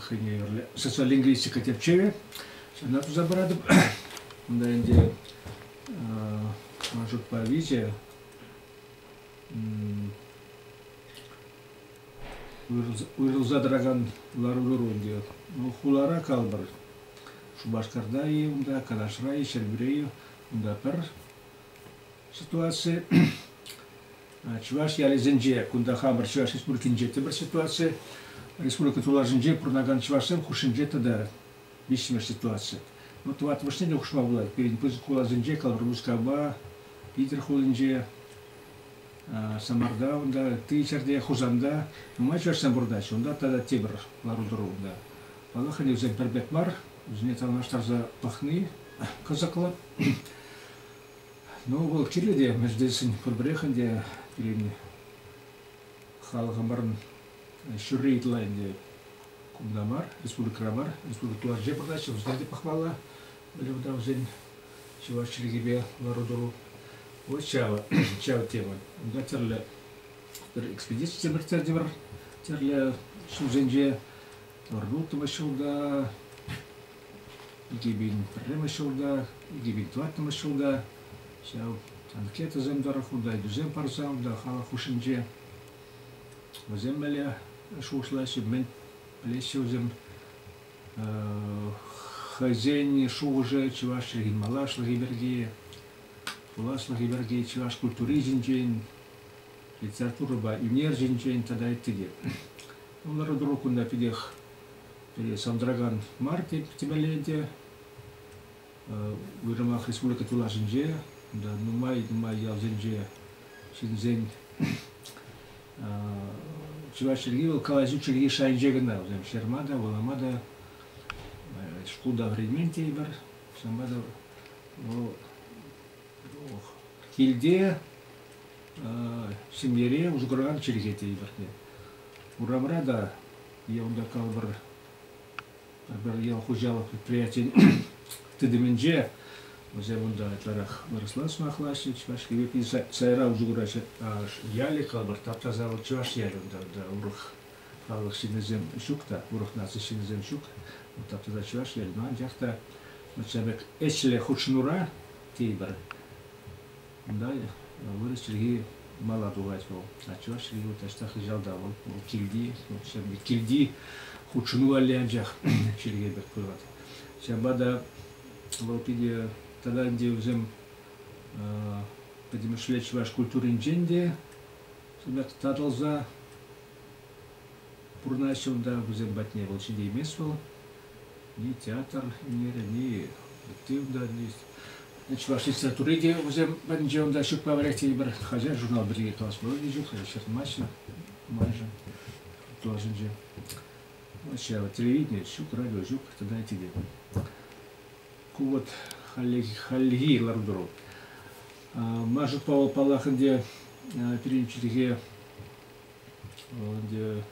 хӑйне юрлӗ социолингвистика тӗпчевӗ. Ҫавна туса паратӑп. Унта ӗнтӗ ман шутпа виҫӗ уйрӑлса тӑракан лару-тӑру ӗнтӗ. Ну, хулара калпӑр. Шупашкарта-и унта, Канашра-и, Ҫӗрпӳре-и, унта пӗр Ситуаци чӑваш ялӗсенче, кунта хамӑр Чӑваш Республикинче тепӗр ситуаци. Республика тулашӗнче пурӑнакан чӑвашсем хушшинче тата виҫҫӗмеш ситуаци. Ну, тӑваттӑмӗшне те хушма пулать. Пирӗн пысӑк хуласенче, Калӑр Мускава, Питӗр хулинче, Самарта, унта, ти ҫӗрте, Хусанта нумай чӑвашсем пурӑнаҫҫӗ. Унта тата тепӗр лару-тӑру унта. Паллах, ӗнӗ вӗсем пӗр пек мар, вӗсене танлаштарса пӑхни кӑсӑклӑ. Ну, вӑл кирлӗ те, Мерседесӗн пурпӗрех ӗнтӗ илемне. Халӑхӑмӑрӑн ҫурри ытла ӗнтӗ кунта мар, республикӑра мар, республика ларчӗ пӑхаҫҫӗ, вӗсене те пӑхмалла. Вӗле вӑта вӗсен чӑваш чӗлхипе лару-тӑру. Вот ҫава, ҫава тема. Унта тӗрлӗ пӗр экспедици те выртса тепӗр тӗрлӗ ҫулсенче Ӑрурутово ҫулта, икӗ пин пӗрремӗш ҫулта, икӗ пин тӑваттӑмӗш ҫулта ҫав анкетӑсем тӑрӑх унта ыйтусем парса унта халӑх хушшинче вӗсем мӗнле шухӑшлаҫҫӗ, мӗн пӗлеҫҫӗ вӗсем хӑйсен шухӑшӗ чӑваш чӗлхи малашлӑхӗ пирки, пуласлӑхӗ пирки, чӑваш культури ҫинчен, литературӑпа ӳнер ҫинчен тата ытти те. Лару-тӑру кунта питех сантӑракан мар темелле те. Уйрӑмах республика тулашӗнче, нумай-нумай ялсенче ҫынсен чӑваш чӗлхи вӑл калаҫу чӗлхи шайӗнче кӑна. Вӗсем ҫырма та, вулама та, шкулта вӗренмен тейӗпӗр. Ҫавӑнпа та вӑл Килте ҫемьере усӑ куракан чӗлхе те илӗртнӗ. Урамра та е унта калӑпӑр пӗр ял хуҫалӑх предприятийӗн тытӑмӗнче вӗсем унта ытларах вырӑсла сӑмахлаҫҫӗ, чӑваш пирки сайра усӑ кураҫҫӗ. Ялӗ калӑпӑр тап-таса вӑл чӑваш ялӗ унта, унта урӑх халӑх ҫыннисем ҫук та, урӑх наци ҫыннисем ҫук. Тап-таса чӑваш ялӗ. Анчах та ҫав пек ӗҫлӗ хутшӑнура тейӗпӗр. Кунта вырӑс чӗлхи мала тухать вӑл. А чӑваш чӗлхи вӑл таҫта хыҫалта, вӑл, вӑл килти, вӑл килти хутшӑну валли анчах чӗлхе пек пырать. Ҫапла та вӑл питӗ тата ӗнтӗ вӗсем пӗтӗмӗшле чӑваш культуринчен те татӑлса пурӑнаҫҫӗ унта вӗсем патне. Вӑл ҫитеймест вӑл. театр ӗнерӗни, тивдалист. Чӑваш литератури те вӗсем пӗринче унта ҫукпа вӗрех тенӗ хаҫат журнал пирки калас пулать ҫук, ҫыртмаҫҫӗ майшӑн тулашӗнче. Ҫав телевидение ҫук, радио ҫук, тата эти те. Ку вот хальлехи, хальлехи лару-тӑру. Маша Павел Паллах ӗнтӗ пирӗн чӗлхе ӗнтӗ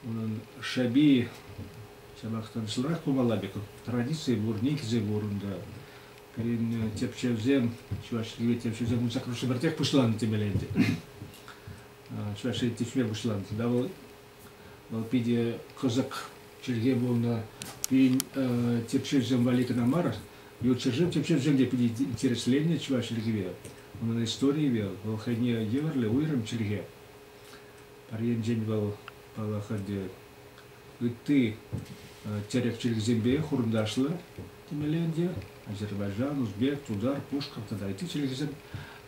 унӑн шӑпи ҫапах та вӑсӑлрах пулмалла пек. Традици пур, никӗсӗ пур унта. Пирӗн тӗпчевсем, чӑваш чӗлхи тӗпчевсем унсах пӗртех пуҫланнӑ темелле ӗнтӗ. Чӑваш чӗлхи тӗпчеве пуҫланнӑ. Тата вӑл, вӑл питӗ кӑсӑк чӗлхе пулнӑ. Пирӗн тӗпчевсем валли кӑна мар, ют ҫӗршыв тӗпчевсем те питӗ интересленнӗ чӑваш чӗлхипе, унӑн историйӗпе. Вӑл хӑйне евӗрлӗ уйрӑм чӗлхе. Пӗр енчен вӑл, паллах, ӗнтӗ ытти тӗрӗк чӗлхисемпе хурӑнташлӑ темелле ӗнтӗ. Азербайджан, узбек, тутар, пушкӑрт тата ытти чӗлхесем.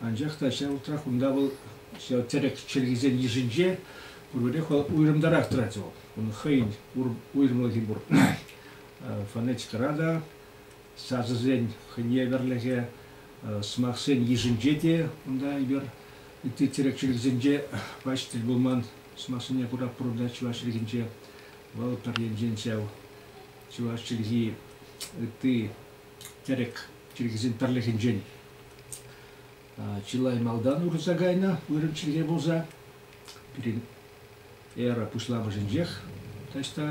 Анчах та ҫав вӑхӑтрах унта вӑл ҫав тӗрӗк чӗлхисен йышӗнче пурпӗрех вӑл уйрӑмтарах тӑрать вӑл. Унӑн хӑйӗн уйрӑмлӑхӗ пур. Фонетикӑра та, сасӑсен хӑйне евӗрлӗхӗ, сӑмахсен йышӗнче те унта эпир Ытти тӗрек чирӗсенче пач тӗл пулман. Сӑмахсене кура пурӑнать чӑваш чӗлхинче. Вӑл пӗр енчен ҫав чӑваш чӗлхи ытти тӗрек чӗлхисен пӗрлӗхӗнчен чылай малтан урӑлса кайнӑ вырӑн чӗлхе пулса. Пирӗн эра пуҫламӑшӗнчех таҫта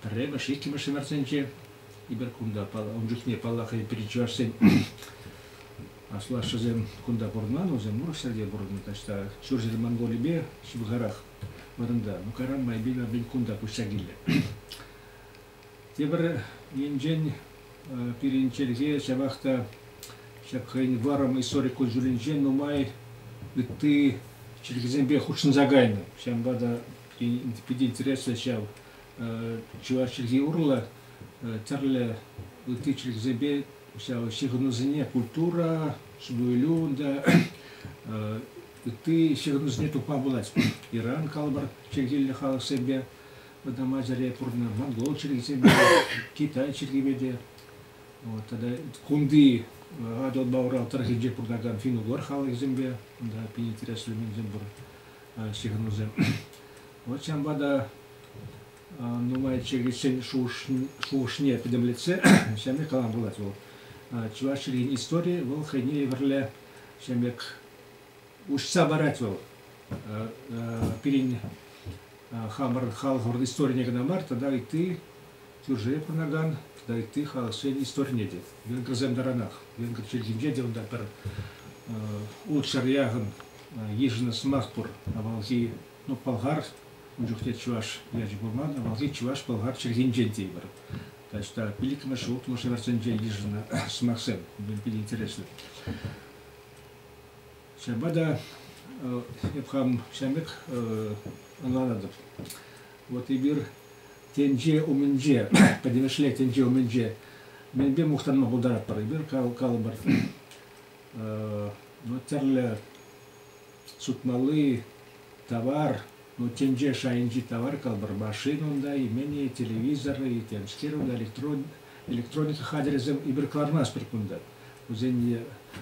Пӗрремӗш, иккӗмӗш ҫӗмӗртсенче кунта ун чухне, паллах, пирӗн чӑвашсен аслашшӗсем кунта пурӑнман, вӗсем Мурӑшсерте пурӑннӑ таҫта, ҫурҫӗр Монголипе ҫывӑхарах вырӑнта. Ну, карам майпен апин кунта куҫса килнӗ. Тепӗр енчен пирӗн чӗлхе ҫавах та ҫак хӑйӗн вӑрӑм историк кун-ҫулӗнче нумай ытти чӗлхесемпе хутшӑнса кайнӑ. Ҫавӑнпа та пирӗн интереслӗ ҫав чӑваш чӗлхи урлӑ тӗрлӗ ытти чӗлхесемпе ҫав ҫыхӑнусене культура, ҫӗнӗлӳ, унта ытти ҫыхӑнусене тупма пулать. Иран калӑпӑр чӗлхиллӗ халӑхсемпе вӑтам Азире пурӑннӑ, монгол чӗлхисемпе, китай чӗлхипе те. Вот, тата кунти Атӑл Баурал тӑрӑхӗнче пурӑнакан финногор халӑхӗсемпе, унта пин интереслӗ ҫынсем пур. ҫыхӑнусем. Вӑт ҫавӑнпа та нумай чӗкӗчсен шухӑшне пӗтӗмлетсе ҫамрӑк калам пулать вӑл. Чӑваш чӗлхин историйӗ вӑл хӑйне евӗрле ҫамрӑк уҫса парать вӑл. Пирӗн хамӑр халӑх историне кӑна мар, тата ытти кӳршӗре пурӑнакан тата ытти халӑхсен историне те. Венгрсем таранах. Венгр чӗлхинче те унта пӗр ултҫӑр яхӑн Йышӑннӑ сӑмах пур, авалхи, ну, пӑлхар, ун чухне чӑваш ячӗ пулман, авалхи чӑваш-пӑлхар чӗлхинчен тейпӗр. Таҫта пиллӗкмӗш, улттӑмӗш вӗрсенче йышӑннӑ сӑмахсем, питӗ интереслӗ. Ҫавӑнпа та эп хам ҫавӑн пек ӑнланатӑп. Вот эпир тӗнче умӗнче, пӗтӗмӗшле тӗнче умӗнче мӗнпе мухтанма пултаратпӑр? Эпир калӑпӑр, ну, тӗрлӗ сутмалли тавар, ну, тӗнче шайӗнчи тавар калпӑр, машина унта, имени, телевизор, темскер, унта электрон, электроника хатӗрӗсем эпир кӑлармастпӑр кунта. Вӗсене,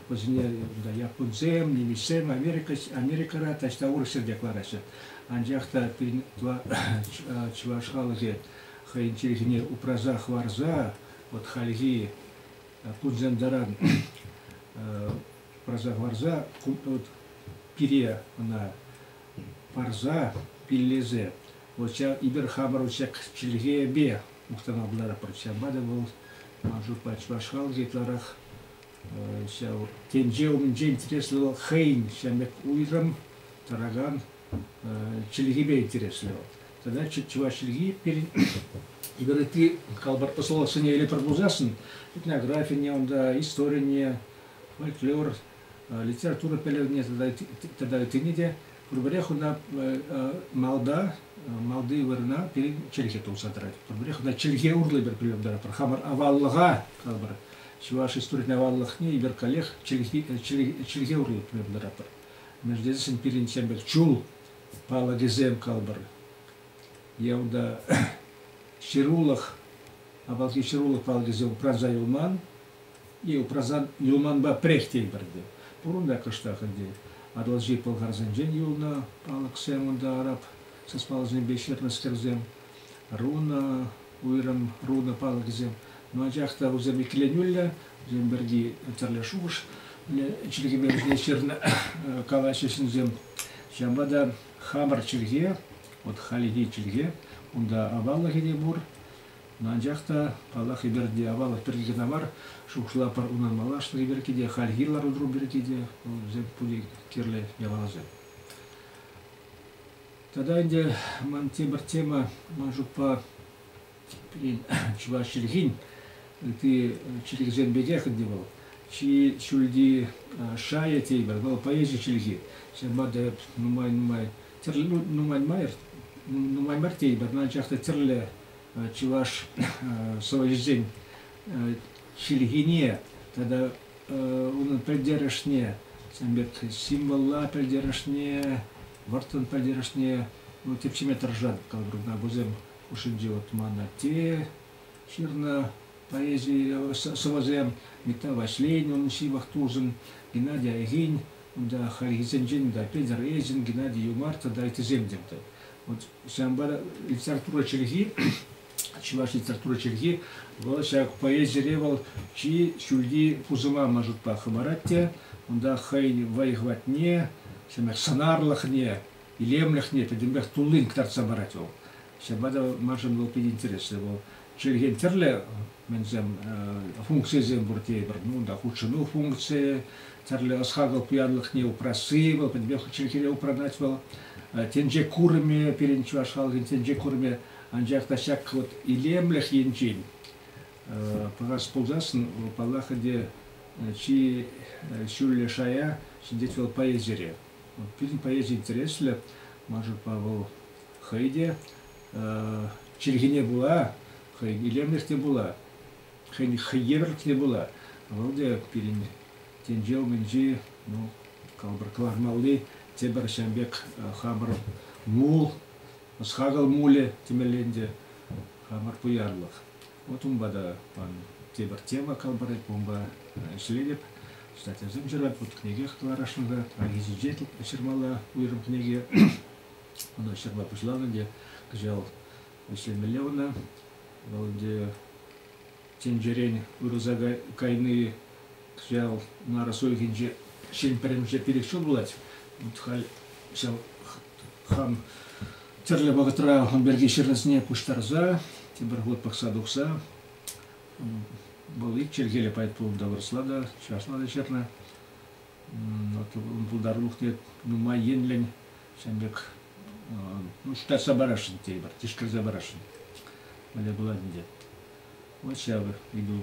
вӗсене унта японсем, немецсем, Америка, Америкӑра таҫта урӑх ҫӗрте кӑлараҫҫӗ. Анчах та пирӗн чӑваш халӑхӗ хӑйӗн чӗлхине упраса хӑварса вот хальхи Туржандаран праса пире ӑна парса, пиллесе, вот ҫав эпир хамӑр ҫак чӗлхепе мухтана буларатпӑр. Ҫавӑнпа та вӑл ман шутпа чӑваш халӑхӗ ытларах ҫав тӗнче умӗнче интереслӗ вӑл хӑйӗн ҫамрӑк уйрӑм тӑракан чӗлхипе интереслӗ вӑл. Тогда чӑваш чӗлхи пирӗн Игорь, ты калбар посылосене или пробузасын, этнография, унда история, фольклор, литература пӗлӗвне тогда, тогда ытини те, пурпӗрех унта малда, малди вырӑна пирӗн чӗлхе тулса тӑрать. Пурпӗрех унта чӗлхе урлӑ пӗр пӗлӗм тӑратпӑр. Хамӑр аваллӑха калбар, чӑваш историйӗн аваллӑхне Игорь коллег чӗлхе, чӗлхе, чӗлхе урлӑ пӗлӗм тӑратпӑр. Мӗн тесен пирӗн Чемпӗр чул палӑкӗсем калпӑр. Явда ҫырулӑх, апалки ҫырулӑх палӑкӗсем упранса юлман, и упрасан юлманпа пӗрех тейпӗрте. Пурӑн та кӑштах ӗнтӗ Атӑлҫи пӑлхарсенчен юлнӑ палӑксем унта араб саспаллисемпе ҫырнӑскерсем, руна, уйрӑм руна палӑкӗсем. Но анчах та вӗсем иккӗленӳллӗ, Вӗсен пирки тӗрлӗ шухӑш чӗлхепе вӗсене ҫырнӑ калаҫҫӗ ҫынсем. Ҫавӑнпа та хамӑр чӗлхе, вот халихи чӗлхе, унта аваллӑхӗ те пур. Анчах та, паллах, эпир те аваллӑх пирки кӑна мар, шухӑшлатпӑр унӑн малашлӑхӗ пирки те, хальхи лару-тӑру пирки те, вӑл вӗсем пурте кирлӗ япаласем. Тата ӗнтӗ ман тепӗр тема, ман шутпа, чӑваш чӗлхин ытти чӗлхисем пекех ӗнтӗ вӑл чи ҫӳлти шайӗ теймӗр вӑл поэзи чӗлхи ҫавна та нумай нумай тӗрлӗ ну, нумай май нумай мар теймӗр анчах та тӗрлӗ чӑваш сӑвӑҫӗсен чӗлхине тата унӑн пӗлтерӗшне сан пек символла пӗлтерӗшне вӑрттӑн пӗлтерӗшне ну, тӗпчеме тӑрӑшать калӑпӑр кунта вӗсем хушшинче вот ман атте ҫырнӑ поэзи сӑвӑсем Мета Ваҫленин ҫывӑх тусӗн Геннадий Айгин, унта хальхисенчен унта Петер Эйзин, Геннадий Юмар тата ыттисем те. Вот ҫамбара литература чӗлхи чӑваш литература чӗлхи вӑл ҫак поэзире вӑл чи ҫӳлти пусӑма маршрутпа хӑварать те унта хӑйӗн вӑй-хӑватне сӑнарлӑхне илемлӗхне тӗтӗмпех туллин кӑтартса парать вӑл. Ҫапла та маншӑн вӑл питӗ интереслӗ. Вӑл чӗлхен тӗрлӗ мӗнсем функцийӗсем пур тейӗпӗр. Ну, унта хутшӑну функцийӗ, тӗрлӗ ӑс-хакӑл пуянлӑхне упрасси, вӑл пӗтӗмпех чӗлхере упранать вӑл. Тӗнче курӑмӗ пирӗн чӑваш халӑхӗн тӗнче курӑмӗ анчах та ҫак вот илемлӗх енчен пӑхас пулсассӑн, вӑл паллах ӗнтӗ чи ҫӳллӗ шая ҫӗнтет вӑл поэзире. Пирӗн поэзи интереслӗ. Мӑшӑрпа вӑл хӑй те чӗлхене пула хӑй илемлӗх те пула, хӑйӗн хӑйевӗрлӗх те пула вӑл те пирӗн тӗнче умӗнчи ну, калӑпӑр кӑлармалли тепӗр ҫавӑн пек хамӑр мул, ӑс-хакӑл мулӗ темелле ӗнтӗ, хамӑр пуянлӑх. Вот унпа та пан тепӗр тема кӑлпӑрать бомба ӗҫлетӗп. Читательсем ҫырать вӑт кӗнекех ытларашнӑ-ха. Ҫинче ҫырмалла уйрӑм кӗнеке. Ӑна ҫырма пуҫланӑ те кӑҫал ӗҫлемелле ӑна. Вӑл ӗнтӗ тӗнчерен вырӑса кайни кӑҫал нарӑс уйӑхӗнче ҫын пӗрремӗше перекҫен пулать. Вот халь ҫав хам тӗрлӗ вӑхӑтра ун пирки ҫырнисене пуҫтарса тепӗр хут пӑхса тухса вӑл ик чӗлхеллӗ поэт пулнӑ та вырӑсла та чӑвашла та ҫырнӑ. Вот ун пултарулӑхне нумай енлӗн ҫавӑн пек ну, шутлатса парасшӑн тейӗпӗр, тишкерсе парасшӑн. Мӗнле пулать ӗнтӗ. Вот ҫав ыйту